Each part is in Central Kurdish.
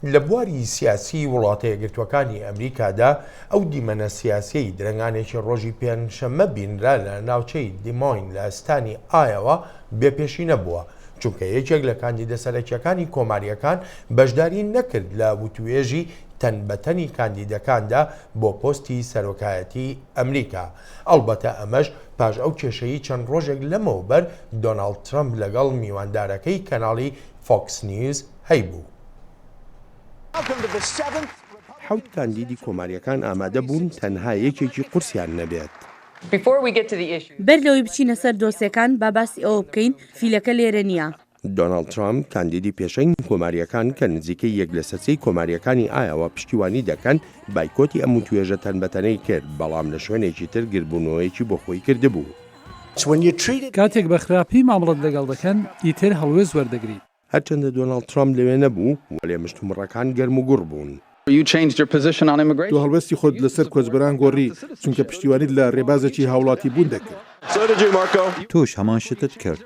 لە بواری سیاسی وڵاتە یەکگرتووەکانی ئەمریکادا ئەو دیمەنە سیاسیی درەنگانێکی ڕۆژی پێنجشەممە بینرا لە ناوچەی دیمۆین لە ستانی ئایەوا بێ پێشینە بووە، چونکە یەکێک لە کاندیدە سەرەکییەکانی کۆمارییەکان بەشداری نەکرد لە وتووێژی تەنبەتەنی کاندیدەکاندا بۆ پۆستی سەرۆکایەتیی ئەمریکا، ئەڵبەتە ئەمەش پاش ئەو کێشەیی چەند ڕۆژێک لەمەوبەر دۆناڵد ترەمپ لەگەڵ میواندارەکەی کەناڵی فۆکس نیوز هەیبوو. حەوت کاندیدی کۆماریەکان ئامادە بوون تەنها یەکێکی قورسیان نەبێت. بەر لەوەی بچینە سەر دۆسێکان با باسی ئەوە بکەین فیلەکە لێرە نیە. دۆناڵد ترامپ کاندیدی پێشەنگی کۆماریەکان کە نزیکەی یەک لەسەر سێی کۆماریەکانی ئایاوا پشتیوانی دەکەن بایکۆتی ئەم وتوێژە تەنبەتەنەی کرد بەڵام لە شوێنێکی تر گردبوونەوەیەکی بۆ خۆی کردبوو. کاتێک بە خراپی مامڵەت لەگەڵ دەکەن ئیتر هەڵوێست وەردەگریت. هەرچەندە دۆناڵد ترامپ لەوێ نەبوو، وەلێ مشتومڕەکان گەرموگوڕ بوون. تۆ هەڵوێستی خۆت لەسەر کۆچبەران گۆڕی، چونکە پشتیوانیت لە رێبازێکی هاوڵاتیبوون دەکرد. تۆش هەمان شتت کرد.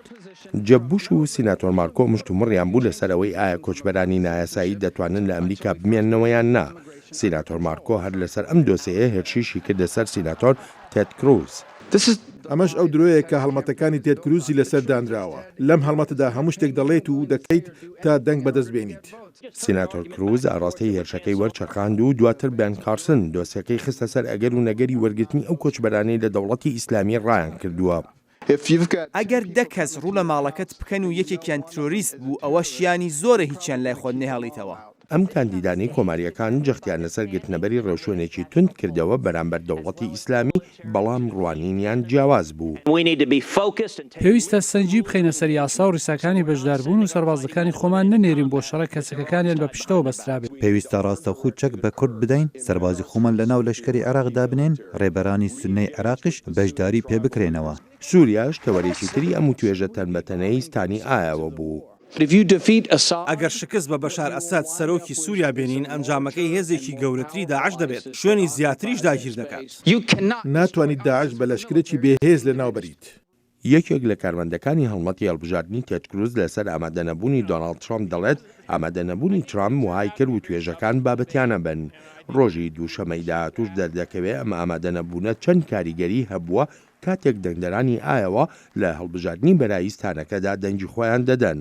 جێب بوش و سیناتۆر مارکۆ مشتومڕیان بوو لەسەر ئەوەی ئایا کۆچبەرانی نایاسایی دەتوانن لە ئەمریکا بمێننەوە یان نا. سیناتۆر مارکۆ هەر لەسەر ئەم دۆسێیە هێرشیشی کردە سەر سیناتۆر تێد کروز. ئەمەش ئەو درۆیە کە هەڵمەتەکانی تێد کروزی لەسەر دانراوە. لەم هەڵمەتەدا هەموو شتێک دەڵێیت و دەکەیت تا دەنگ بەدەست بێنیت. سیناتۆر کروز ئاڕاستەی هێرشەکەی وەرچەرخاند و دواتر بێن کارسن دۆسیەکەی خستە سەر ئەگەر و نەگەری وەرگرتنی ئەو کۆچبەرانەی لە دەوڵەتی ئیسلامی ڕایانکردووە. ئەگەر دە کەس ڕوو لە ماڵەکەت بکەن و یەکێکیان ترۆریست بوو ئەوە شیانی زۆرە هیچیان لای خۆت نەهێڵیتەوە. ئەم کاندیدانەی کۆمارییەکان جەختیان لەسەر گرتنەبەری ڕێوشوێنێکی توند کردەوە بەرامبەر دەوڵەتی ئیسلامی، بەڵام ڕوانینیان جیاواز بوو. پێویستە سەنگی بخەینە سەر یاسا و ڕیساکانی بەشداربوون و سەربازەکانی خۆمان نەنێرین بۆ شەڕێک کە چەکەکانیان بە پشتەوە بەسترابێت. پێویستە ڕاستەوخو چەک بە کورد بدەین، سەربازی خۆمان لەناو لەشکەری عێراق دابنێین، ڕێبەرانی سوننەی عێراقیش بەشداری پێبکرێنەوە. سوریاش تەوەرێکی تری ئەم وتوێژە تەن بە تەنەی ستانی ئایاوە بوو. ئەگەر شکست بە بەشار ئەسەد سەرۆکی سوریا بێنین ئەنجامەکەی هێزێکی گەورەتری داعش دەبێت شوێنی زیاتریش داگیر دەکات. ناتوانیت داعش بە لەشکرێکی بێ هێز لە ناو بەریت. یەکێک لە کارمەندەکانی هەڵمەتی هەڵبژاردنی تێد کروز لەسەر ئامادە نەبوونی دۆناڵد ترامپ دەڵێت ئامادە نەبوونی ترامپ وەهای کرد وتوێژەکان بابەتیانە بن. ڕۆژی دووشەمەی داهاتووش دەردەکەوێت ئەم ئامادە نەبوونە چەند کاریگەری هەبووە کاتێک دەنگدەرانی ئایەوا لە هەڵبژاردنی بەرایی ستانەکەدا دەنگی خۆیان دەدەن.